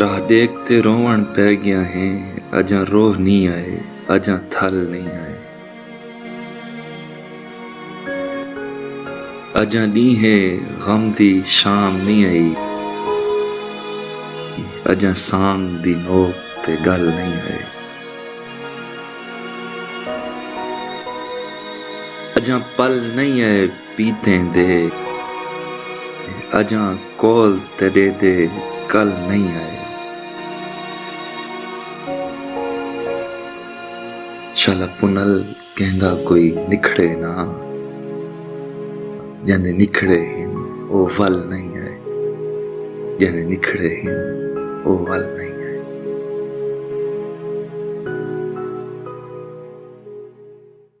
راہ ڈیکھ تے روون پے گیاں ہیں اجاں روہ نیں آئے اجاں تھل نیں آئے اجاں ڈینہہ غم دی شام نیں آئی اجاں سانگ دی نوک تے گل نیں آئے اجاں پل نیں آئے۔ پیتیں دے اجاں قول تیڈے دے کل نئیں آئے۔ شالا پنل کہندا کوئی نکھڑے نہ جیندے نکھڑے ہن او ول نئیں آئے جیندے نکھڑے ہن او ول نئیں آئے۔